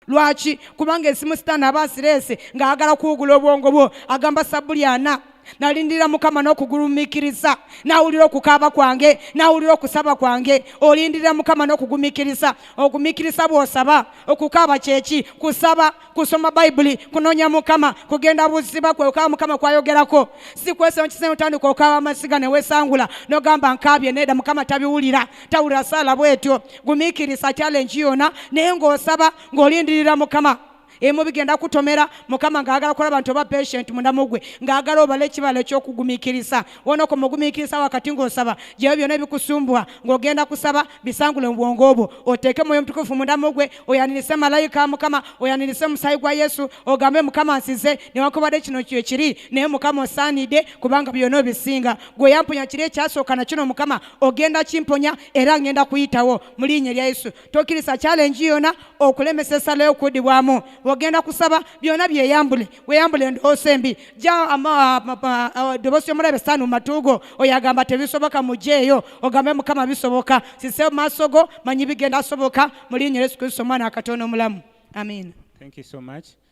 lwaki kubanga esimu sitaani aba asireese ng'ayagala kuwugula obwongo bwo agamba sabbuli ana nalindira mukama n'okugulumikiriza nawulira okukaaba kwange nawulira okusaba kwange olindira mukama n'okugumikiriza ogumikiriza bw'osaba okukaaba kyeki kusaba kusoma bayibuli kunoonya mukama kugenda buziba kwe okaaba mukama kwayogerako si kwesonkiseotandika okaaba amasiga newesangula nogamba nkaabye needa mukama tabiwulira tawulira saala bwetyo gumiikiriza challenge yona naye ng'osaba ng'olindirira mukama emu bigenda kutomera mukama ng'agala kulaba nti oba patient munamugwe ng'agala obala ekibala eky'okugumikiriza wona ko mugumikiriza wakati ng'osaba gyeyo byona ebikusumbwa ng'ogenda kusaba bisangule mu bwongo obwo oteeke mwoyo mutukufu munamugwe oyanirise malayika mukama oyanirise omusaayi gwa yesu ogambe mukama nsize newankubadde kino kyekiri naye mukama osaanidde kubanga byona obisinga gwe yampunya kiri ekyasooka nakino mukama ogenda kimponya era ngenda kuyitawo mu liinya erya yesu tokkiriza kyalenji yona okulemesa esala y'okuddibwamu ogenda kusaba byona byeyambule weyambule endowoosa embi ja ddoboosi y'omulabe saani mu matu go oyo agamba tebisoboka mujje eyo ogambe mukama bisoboka sise mu maaso go manyi bigenda soboka mu liinya yesu kristo omwana akatoona omulamu amiina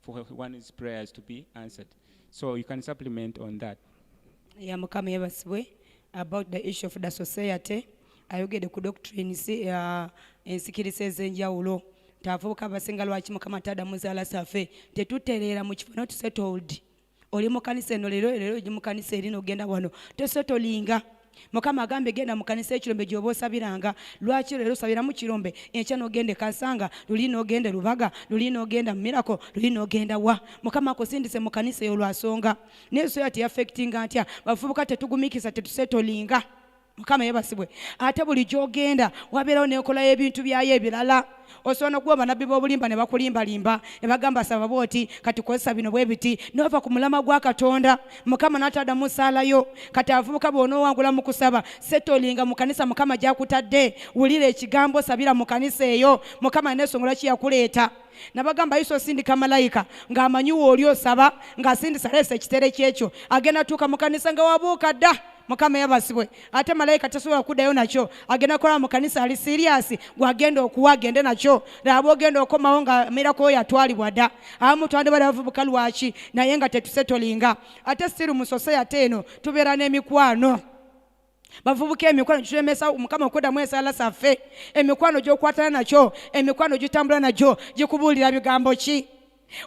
for one's prayers to be answered. So you can supplement on that. ya mukama yebasibwe about the issue of the society ayogede ku doctrines uh, ensikiriza ez'enjawulo nti abavubuka abasinga lwaki mukama tadamuzaala safe tetutereera mu kifo not settled oli mukanisa eno leero leero oji mukanisa eri nogenda wano tesotolinga mukama agambe genda mukanisa ekirombe gyoba osabiranga lwaki leero osabiramu kirombe enkya nogende kasanga luli nogende lubaga luli nogenda mumirako luli nogenda wa mukama akusindise mukanisa eyo lwasonga naye soya teyafectinga ntya bavubuka tetugumikisa tetusetolinga mukama yebasibwe ate buli gyogenda wabeerawo nenkola y'ebintu byayo ebirala osobola nokuba banabbi b'obulimba ne bakulimbalimba ne bagamba saba bwoti kati kozesa bino bwe biti nova ku mulama gwa katonda mukama n'ataada mu saala yo kati abavubuka bw'onoowangula mu kusaba setolinga mu kanisa mukama gyakutadde wulira ekigambo sabira mu kanisa eyo mukama nesongola ki yakuleeta nabagamba yisa osindika malayika ng'amanyiwa oli osaba ng'asindisa leesa ekitere kyekyo agenda tuuka mu kanisa nga wabuuka dda mukama yabasibwe ate malayika tasobola kuddayo nakyo agenda kukola mu kanisa ali siriyasi gwagenda okuwa agende nakyo laba ogenda okomawo nga mirako yatwalibwa dda abamu twandibala bavubuka lwaki naye nga tetusetolinga ate siru musose ate eno tubeera n'emikwano bavubuka emikwano gitulemesa mukama okuddamu esaala zaffe emikwano gyokwatana nakyo emikwano gitambula nagyo gikubuulira bigambo ki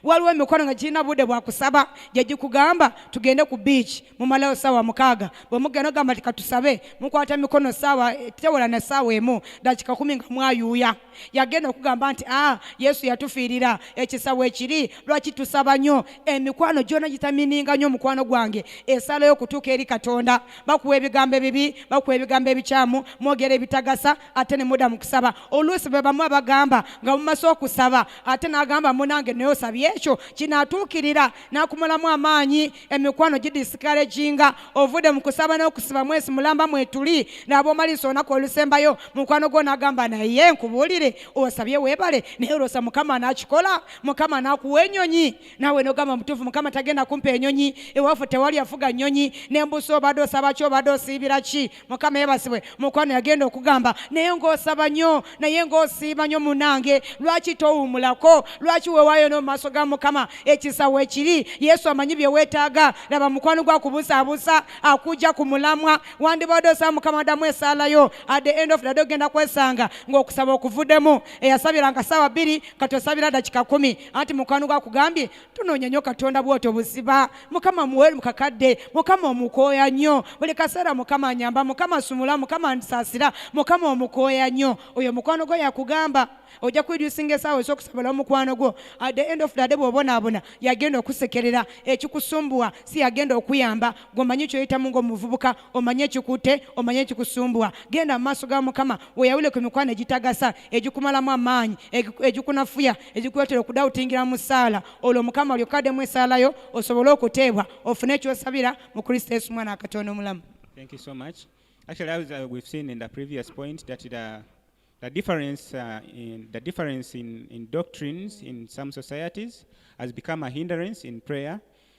waliwo emikono nga girina budde bwakusaba gyegikugamba tugende ku biiki mumalayo saawa mukaaga bwemugenda ogamba ti katusabe mukwata mikono saawa tewala na saawa emu dakika kumi nga mwayuuya yagenda okugamba nti a ah, yesu yatufiirira ekisawa ekiri lwaki tusaba nnyo emikwano gyona gitamininga nnyo omukwano gwange esalayo okutuuka eri katonda bakuwa ebigambo ebibi bakuwa ebigambo ebikyamu mwogera ebitagasa ate ne muda mu kusaba oluusi be bamu abagamba nga mumase okusaba ate n'agamba munange naye osabye ekyo kinaatuukirira n'akumulamu amaanyi emikwano gidisikareginga ovudde mu kusaba n'okusiba mwesi mulamba mwetuli naaba omalisa olunaku olusembayo mukwano gwo n'agamba naye nkubuulire osabye weebale naye olwosa mukama n'akikola mukama n'akuwa enyonyi naawe n'ogamba mutuufu mukama tagenda kumpa enyonyi ewaffe tewali afuga nyonyi nembusa obadde osaba ki obadde osiibira ki mukama yebasibwe mukwano yagenda okugamba naye ngaosaba nnyo naye ngaosiima nnyo munange lwaki towumulako lwaki wewayo no mumaaso ga mukama ekisawo ekiri yesu amanyi byewetaaga laba mukwano gwa kubusaabusa akujja ku mulamwa wandibadde osaba mukama adamu esaalayo at the end of the day ogenda kwesanga ngaokusaba okuvudemu eyasabiranga saawa bbiri kati osabira dakika kumi anti mukwano gwakugambye tunoonya nnyo katonda bwoto buziba mukama muwere mukakadde mukama omukooya nnyo buli kaseera mukama anyamba mukama sumula mukama nsasira mukama omukooya nnyo oyo mukwano gwo yakugamba ojja kwedusinga esaawa ezokusabala omukwano gwo at the end of the day bwobonaabona yagenda okusekerera ekikusumbuwa si yagenda okuyamba gwomanyi kyoyitamu ngaomuvubuka omanye ekikutte omanye ekikusumbuwa genda mu maaso ga mukama weyawule ku mikwano egitagasa egikumalamu amaanyi egikunafuya egikuleetera okudawutingira mu ssaala olwo mukama olyoka addemu esaalayo osobole okuteebwa ofune ekyosabira mu kristo yesu mwana akatonda omulamu Thank you so much. Actually, as uh, we've seen in the previous point, that the, the difference, uh, in, the difference in, in doctrines in some societies has become a hindrance in prayer.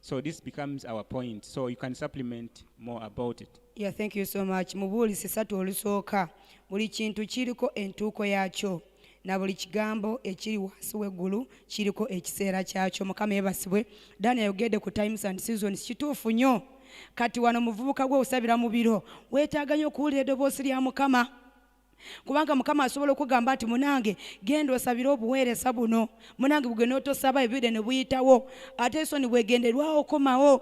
So this becomes our point. So you can supplement more about it. Yeah, thank you so much. Mubuli sisatu olusooka buli kintu kiriko entuuko yaakyo na buli kigambo ekiri wansi w'eggulu kiriko ekiseera kyakyo. Mukama yebasibwe. Dani ayogedde ku times and seasons. Kituufu nnyo. Kati wano muvubuka gwe osabira mu biro weetaaga nnyo okuwulira eddoboosi lya Mukama. kubanga mukama asobola okugamba nti munange genda osabire obuweereza buno munange bugwe n'otosaba ebire ne buyitawo ate esoni bwegenderwawo okomawo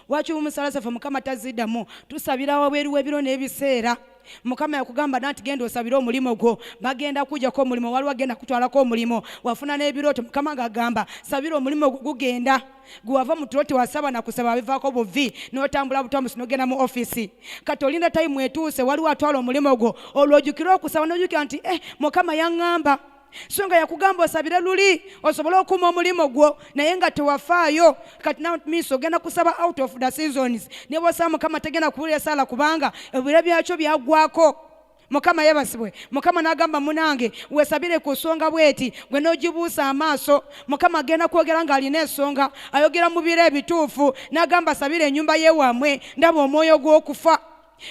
waki omusala zaffe mukama taziddamu tusabira wabweru w'ebiro n'ebiseera mukama yakugamba nanti genda osabire omulimu gwo bagenda kujako omulimu waliwo agenda kutwalako omulimu wafuna n'ebirooto mukama ng'agamba sabira omulimu gwo gugenda gwe wava mu tulo tewasaba na kusaba abivaako buvi n'otambula butambusi n'ogenda mu ofisi kati olinda tayimu etuuse waliwo atwala omulimu gwo olwojukira okusaba n'ojukira nti eh mukama yaŋŋamba so nga yakugamba osabire luli osobole okuuma omulimu gwo naye nga tewafaayo kati namis ogenda kusaba out of the seasons nebwosaba mukama tegenda kuwulira esaala kubanga ebiro byakyo byagwako mukama yebasibwe mukama nagamba munange wesabire ku nsonga bweti gwe nogibuusa amaaso mukama agenda kwogera ng'alina ensonga ayogera mu biro ebituufu nagamba sabire enyumba yewamwe ndaba omwoyo gw'okufa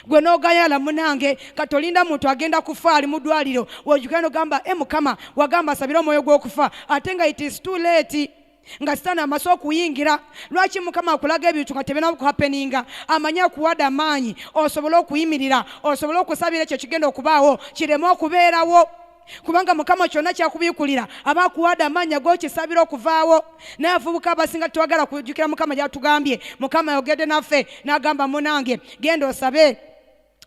gwe nogayala munange katolinda muntu agenda kufa ali mudwaliro wojukira nogamba e eh, mukama wagamba sabire omwoyo gw'okufa ate nga it is too late nga sitaani amaze okuyingira lwaki mukama akulaga ebintu nga tebinakuhapeninga amanyi akuwade amaanyi osobole okuyimirira osobole okusabira ekyo kigenda okubaawo kireme okubeerawo kubanga mukama kyonna kyakubikulira aba akuwade amaanyi agokisabira okuvaawo naye avubuka abasinga twagala kujukira mukama gyatugambye mukama ayogedde naffe n'agamba munange genda osabe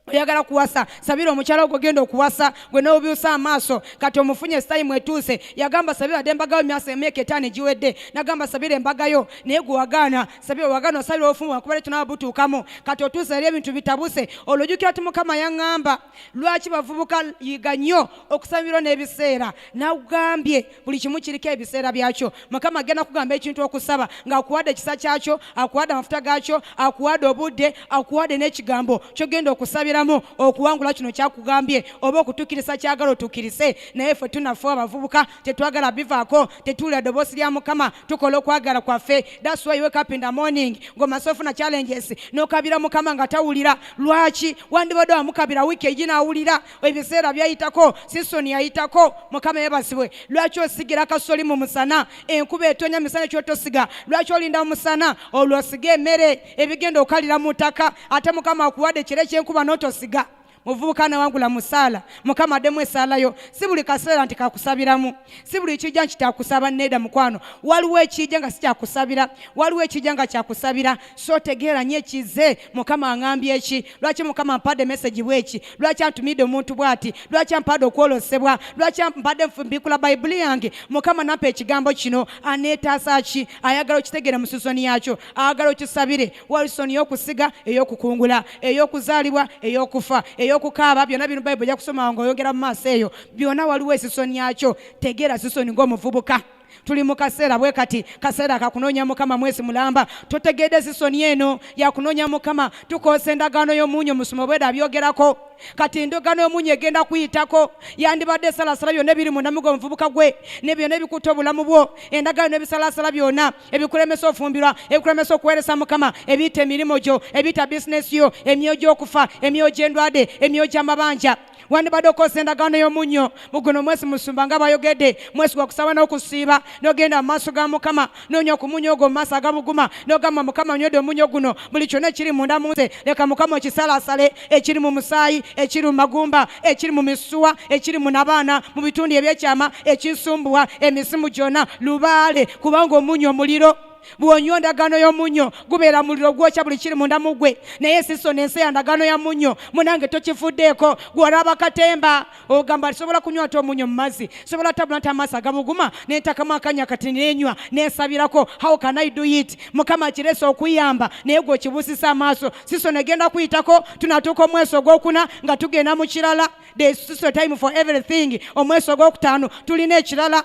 oyagala kuwasa sabira omukyala ogwo genda okuwasa gwe nobyusa amaaso kati omufunye sitayimu etuuse yagamba sabira de embagayo myasa emyaka etaano egiwedde nagamba sabira embagayo naye gwe wagaana sabira wagaana osabira obufumu wakuba leto nawe butuukamu kati otuuse eri ebintu bitabuse olwojukira ti mukama yaŋŋamba lwaki bavubuka yiga nnyo okusabirwa n'ebiseera nagambye buli kimu kiriko ebiseera byakyo mukama agenda kugamba ekintu okusaba ng'akuwadde ekisa kyakyo akuwadde amafuta gaakyo akuwadde obudde akuwadde n'ekigambo kyogenda okusabiramu okuwangula kino kyakugambye oba okutuukiriza kyagala otuukirise naye ffe tunafe abavubuka tetwagala bivaako tetuwulira ddoboosi lya mukama tukola okwagala kwaffe that's why wake up in the morning ng'omaze ofuna challenges n'okabira mukama nga tawulira lwaki wandibadde wamukabira wiiki egi n'awulira ebiseera byayitako sisoni yayitako mukama yebazibwe lwaki osigira kasoli mu musana enkuba etonya musana kyotosiga lwaki olinda mumusana olwo osiga emere ebigenda okalira mu ttaka ate mukama akuwadde ekiro ekyenkuba notosiga muvubuka nawangula musaala mukama addemu esaalayo si buli kaseera nti kakusabiramu si buli kijja nti kyakusaba needa mukwano waliwo ekijja nga sikyakusabira waliwo ekijja nga kyakusabira so otegeera nyo ekize mukama angambye eki lwaki mukama mpadde mesegi bweki lwaki antumidde omuntu bwati lwaki ampadde okwolosebwa lwaki mpadde nfumbikula bayibuli yange mukama nampa ekigambo kino aneetaasa ki ayagala okitegeera mu sizoni yakyo ayagala okisabire walisoni yokusiga eyokukungula eyokuzaalibwa eyokufa eyokukaaba byonna bino bayibuli jakusoma nga oyogera mu maaso eyo byonna waliwo esisoni yakyo tegeera sisoni ngaomuvubuka tuli mu kaseera bwe kati kaseera kakunoonya mukama mwezi mulamba totegeedde zisoni eno yakunoonya mukama tukoosa endagaano y'omuunyo musomo bweda byogerako kati endagaano y'omuunyo egenda kuyitako yandibadde esalasala byonna ebiri munamigo omuvubuka gwe ne byonna ebikutte obulamu bwo endagaano n'ebisalasala byonna ebikulemesa ofumbirwa ebikulemesa okuweeresa mukama ebiyita emirimu gyo ebiyita bizinesi yo emyoyo gy'okufa emyoyo gy'endwade emyoyo gy'amabanja wandibadde okozesa endagaano y'omunnyo mu guno omwezi musumba nga bayogedde mwezi gwa kusaba n'okusiiba n'ogenda mu maaso ga mukama noonya okumunya ogwo mu maaso agabuguma n'ogamba mukama onywedde omunnyo guno buli kyonna ekiri munda mu nze leka mukama okisalaasale ekiri mu musaayi ekiri mu magumba ekiri mu misuwa ekiri mu nabaana mu bitundu ebyekyama ekisumbuwa emisimu gyonna lubaale kubanga omunnyo omuliro bwonywa endagaano y'omunnyo gubeera muliro gwokya buli kiri munda mu gwe naye siso nensi ya ndagaano ya munnyo munange tokifuddeeko gwolaba katemba ogamba sobola kunywa ate omunnyo mu mazzi sobola tabula nti amaaso agabuguma nentakamu akanya kati nenywa nensabirako how can i do it mukama akirese okuyamba naye gwe okibusisa amaaso siso negenda kuyitako tunatuuka omweso ogwokuna nga tugenda mu kirala the siso time for everything omweso ogwokutaano tulina ekirala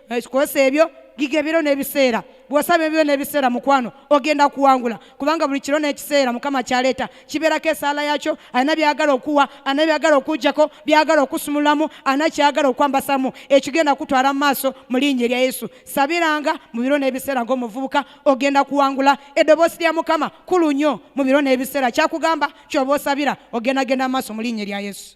ekikosa ebyo giga ebiro n'ebiseera bw'osaba ebiro n'ebiseera mukwano ogenda kuwangula kubanga buli kiro n'ekiseera mukama kyaleeta kibeerako esaala yakyo alina byagala okuwa alina byagala okujjako byagala okusumulamu alina kyagala okwambasamu ekigenda kutwala mu maaso mu linnya erya yesu sabiranga mu biro n'ebiseera ng'omuvubuka ogenda kuwangula eddoboosi lya mukama kulu nnyo mu biro n'ebiseera kyakugamba kyoba osabira ogenda genda mu maaso mu linnya erya yesu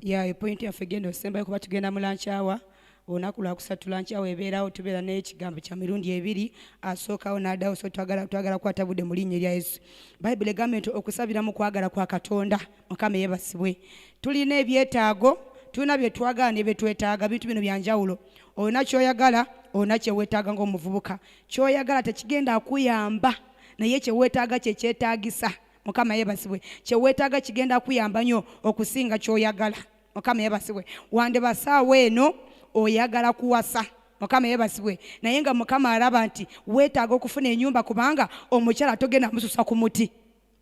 ya epointi yaffe genda osembayo kuba tugenda mu lankyawa olunaku lwakusatu lankyawa ebeerawo tubeera n'ekigambo kya mirundi ebiri asookawo n'addawo so twagala twagala kukwata budde mu linnya erya yesu bayibuli egamba nti okusabira mu kwagala kwa katonda mukama eyebasibwe tulina ebyetaago tulina bye twagala ne bye twetaaga bintu bino bya njawulo olina kyoyagala olina kyeweetaaga ng'omuvubuka kyoyagala tekigenda kuyamba naye kyeweetaaga kyekyetaagisa mukama yebasibwe kyewetaaga kigenda kuyamba nyo okusinga kyoyagala mukama yebasibwe wande basaawo eno oyagala kuwasa mukama yebasibwe naye nga mukama alaba nti wetaaga okufuna enyumba kubanga omukyala togenda mususa ku muti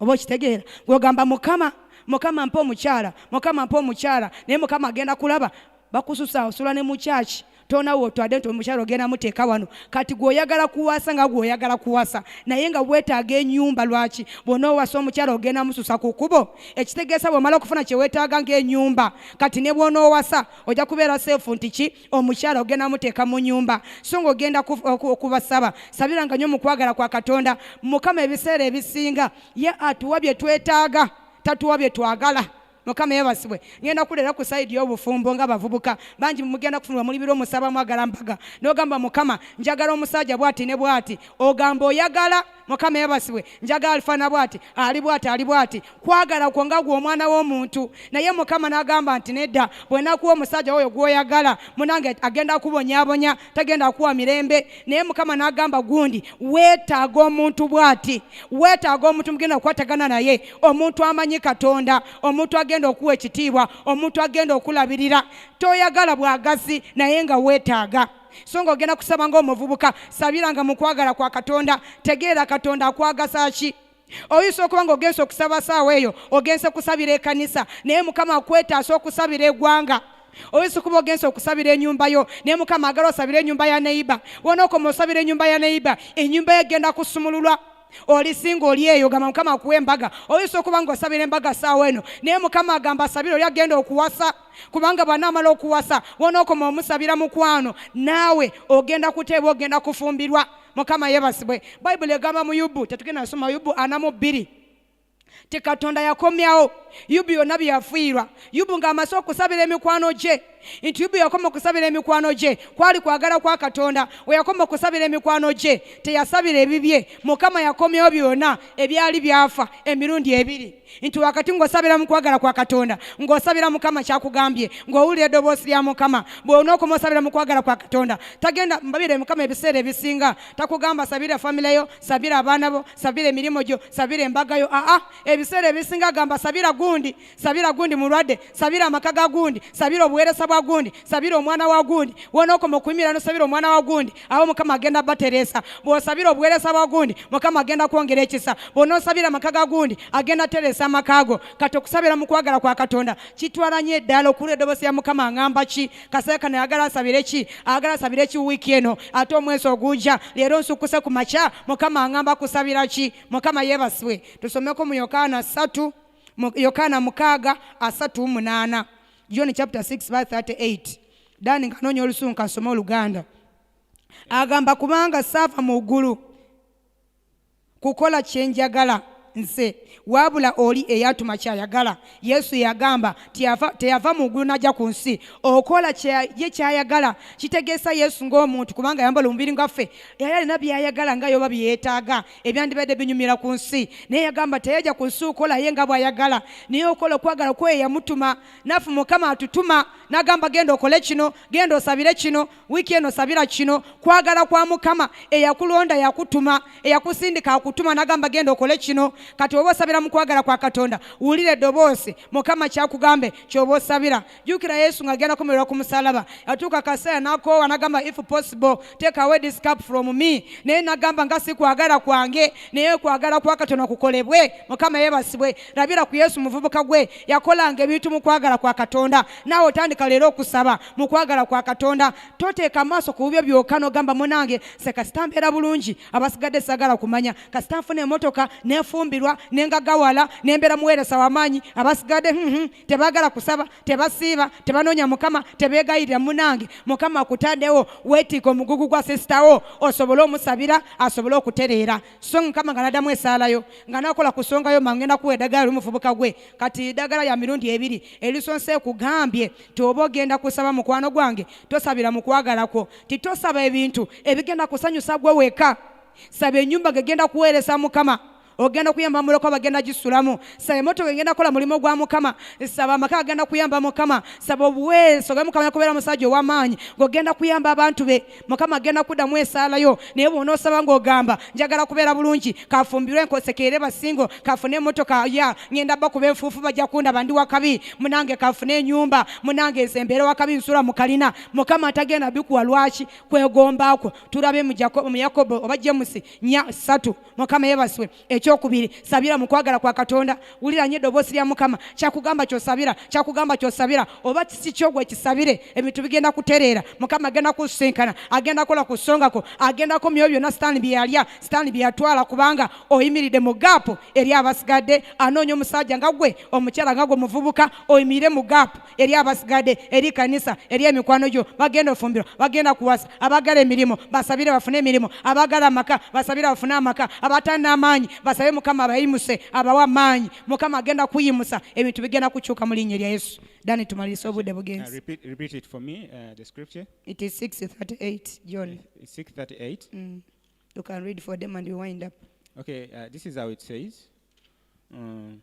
oba okitegeera gwogamba mukama mukama mpa omukyala mukama mpa omukyala naye mukama agenda kulaba bakususa osula ne mu church tona wotwade nti omukyalo ogenda muteeka wano kati gweoyagala kuwasa nga gweoyagala kuwasa naye nga wetaaga enyumba lwaki bwona owasa omukyalo ogenda mususa ku kubo ekitegeesa bwomala okufuna kyewetaaga ngaenyumba kati ne bwona owasa ojja kubeera seefu nti ki omukyalo ogenda muteeka mu nyumba so nga ogenda okubasaba sabira nga nyo mukwagala kwa katonda mukama ebiseera ebisinga ye atuwa byetwetaaga tatuwa byetwagala mukama yebasibwe ngenda kulera ku saidi y'obufumbo nga bavubuka bangi mugenda kufunibwa muli biro musaba mwagala mpaga n'ogamba mukama njagala omusajja bwati ne bwati ogamba oyagala mukama yebasibwe njagala alifaana bwati ali bwati ali bwati kwagala kwo nga gwe omwana w'omuntu naye mukama n'agamba nti nedda bwenakuwa omusajja oyo gwoyagala munange agenda kubonyabonya tagenda kuwa mirembe naye mukama nagamba gundi wetaaga omuntu bwati wetaaga omuntu mugenda kukwatagana naye omuntu amanyi katonda omuntu agenda okuwa ekitiibwa omuntu agenda okulabirira toyagala bwagazi naye nga wetaaga so nga ogenda kusaba ngaomuvubuka sabiranga mukwagala kwa katonda tegeera katonda akwagasa ki oyinza okuba nga ogenze okusaba saawa eyo ogenze kusabira ekanisa naye mukama akwetaasa okusabira egwanga oyinza okuba ogenze okusabira enyumba yo naye mukama agala osabira enyumba ya neiba wonaokoma osabira enyumba ya neiba enyumba yo egenda kusumululwa olisinga oli eyo gamba mukama akuwa embaga oyinza okuba nga osabira embaga saawa eno naye mukama agamba asabire oli agenda okuwasa kubanga bwanaamala okuwasa wonaokoma omusabira mukwano naawe ogenda kuteebwa ogenda kufumbirwa mukama yebasibwe bayibuli egamba mu yubu tetugenda nasoma yubu ana mu bbiri ti katonda yakomyawo yubu yonna byeyafiirwa yubu ng'amaze okusabira emikwano gye nti yubu yakoma okusabira emikwano gye kwali kwagala kwa katonda weyakoma okusabira emikwano gye teyasabira ebibye mukama yakomyawo byonna ebyali byafa emirundi ebiri nti wakati ng'osabira mu kwagala kwa katonda ng'osabira mukama kyakugambye ng'owulira eddoboosi lya mukama bw'onookoma osabira mu kwagala kwa katonda tagenda mbabire mukama ebiseera ebisinga takugamba sabira famile yo sabira abaana bo sabira emirimu gyo sabira embaga yo aa ebiseera ebisinga agamba sabira gundi sabira gundi mulwadde sabira amaka ga gundi sabira obuweereza bwa gundi sabira omwana wa gundi wonookoma okuyimira nosabira omwana wa gundi abo mukama agenda bateresa bwosabira obuweresa bwagundi mukama agenda kwongera ekisa bwonosabira amaka gagundi agenda teresa amakago kati okusabira mukwagala kwa katonda kitwala nyo eddala okulu edobosi ya mukama angamba ki kasera kano ayagala asabire ki ayagala asabire ki wiiki eno ate omwezi oguja leero nsukuse ku makya mukama angamba kusabira ki mukama yebasibwe tusomeko mu yokaana satu yokaana mukaaga asatu munaana john chapter 6 by 38 dani nga anoonya olusungu kasome oluganda agamba kubanga saava mu ggulu kukola kyenjagala nze wabula oli eyatuma kyayagala yesu yagamba teyava mu ggulu najja ku nsi okola ye kyayagala kitegeesa yesu ng'omuntu kubanga yambala omubiri ngaffe yali alina byayagala nga yoba byeyetaaga ebyandibadde binyumira ku nsi naye yagamba teyajja ku nsi okola ye nga bwayagala naye okola okwagala kweyo yamutuma nafu mukama atutuma nagamba genda okole kino genda osabire kino wiiki eno sabira kino kwagala kwa mukama eyakulonda yakutuma eyakusindika akutuma nagamba genda okole kino kati oba osabira mu kwagala kwa katonda wulira eddoboosi mukama kyakugambe kyoba osabira jukira yesu nga agenda kumerera ku musalaba atuuka kaseera nakoowa nagamba if possible take away this cup from me naye nagamba nga si kwagala kwange naye kwagala kwa katonda kukolebwe mukama yebasibwe labira ku yesu muvubuka gwe yakolanga ebintu mu kwagala kwa katonda naawe otandika leero okusaba mu kwagala kwa katonda toteeka amaaso ku bubyo byoka nogamba munange se kasita mbeera bulungi abasigadde sagala kumanya kasita nfuna emotoka nefumbirwa nengagawala nembeera muweeresa wamaanyi abasigadde hmm, hmm, tebagala kusaba tebasiiba tebanoonya mukama tebegayirira munange mukama akutandewo weetiika omugugu gwa sisitawo osobole omusabira asobole okutereera so mukama nga nadamu esaalayo nga nakola ku nsonga yo mangenda kuwa eddagala oli muvubuka gwe kati eddagala lya mirundi ebiri erisonse kugambye nti oba ogenda kusaba mukwano gwange tosabira mu kwagala kwo nti tosaba ebintu ebigenda kusanyusa gwe weka saba enyumba gegenda kuweeresa mukama ogenda kuyamba muloko bagenda gisulamu saba emotoka egenda kola mulimu gwa mukama saba amaka agenda kuyamba mukama saba obuweeresa obe mukama yakubeera omusajja ow'amaanyi ng'ogenda kuyamba abantu be mukama agenda kuddamu esaalayo naye bwonaosaba ngaogamba njagala kubeera bulungi kafumbirwe nkosekeere basingo kafune emotoka ya ngenda bakuba enfuufu bajja kundaba ndi wakabi munange kafune enyumba munange nze mbeera wakabi nsula mukalina mukama atagenda bikuwa lwaki kwegombaakwo tulabe mu yakobo oba jemusi nya satu mukama yebaswe ekyokubiri sabira mu kwagala kwa katonda wulira nyo eddoboosi lya mukama kyakugamba kyosabira kyakugamba kyosabira oba kisi kyogwe kisabire ebintu bigenda kutereera mukama agenda kusinkana agenda kola ku songako agendako myoyo byonna sitaani byeyalya sitaani byeyatwala kubanga oyimiridde mu gaapu eri abasigadde anoonya omusajja nga gwe omukyala nga gwe omuvubuka oyimirire mu gaapu eri abasigadde eri kanisa eri emikwano gyo bagenda ofumbiro bagenda kuwasa abagala emirimu basabire bafune emirimu abagala amaka basabire bafune amaka abatalina amaanyi basabe mukama abayimuse abawa amaanyi mukama agenda kuyimusa ebintu bigenda kukyuka mu linnya lya yesu dani tumalirisa obudde bugenzi You can read for them and we wind up. Okay, uh, this is how it says. Um,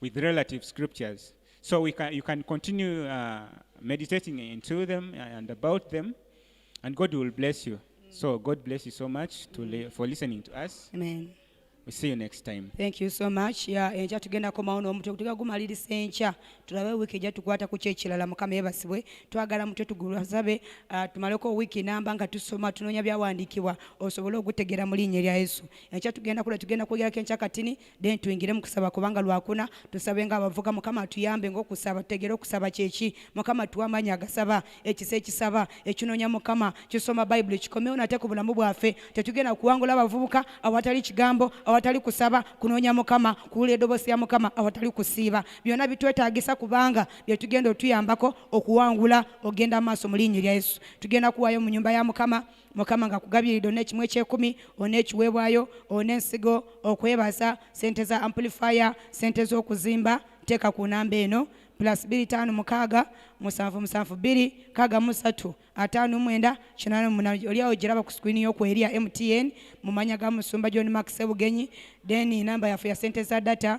with relative scriptures. So we can, you can continue uh, meditating into them and about them, and God will bless you. So God bless you so much to li- for listening to us. Amen. We see you next time. Thank you so much. Yeah, enkya tugenda komawo n'omutwe kutuka gumaliriza enkya tulabe wiiki ejja tukwata ku kyekirala mukama yebasibwe twagala mutwe tugulasabe uh, tumaleko wiiki namba nga tusoma tunoonya byawandiikibwa osobole ogutegeera mu linnya erya yesu enkya tugenda kula tugenda kwogerako enkya katini then tuyingire mu kusaba kubanga lwakuna tusabe nga abavuga mukama tuyambe ngaokusaba tutegere okusaba kyeki mukama tuwa amaanyi agasaba ekisa ekisaba ekinonya mukama kisoma bayibuli kikomewo nate ku bulamu bwaffe tetugenda kuwangula abavubuka awatali kigambo awatali kusaba kunonya mukama kuwula edobosi ya mukama awatali kusiiba byonna bitwetagisa kubanga byetugenda otuyambako okuwangula ogenda maaso mu linnyi lya yesu tugenda kuwayo mu nyumba ya mukama mukama nga kugabiride onekimu ekyekumi onekiwebwayo onensigo okwebaza sente za amplifier sente zokuzimba teeka ku namba eno plus biri tano mukaaga musanvu musanvu biri kaga musatu atano mwenda kinana muna oliawo giraba ku screen yo kweria mtn mumanya ga musumba john max sebugenyi then namba yafu ya sente za data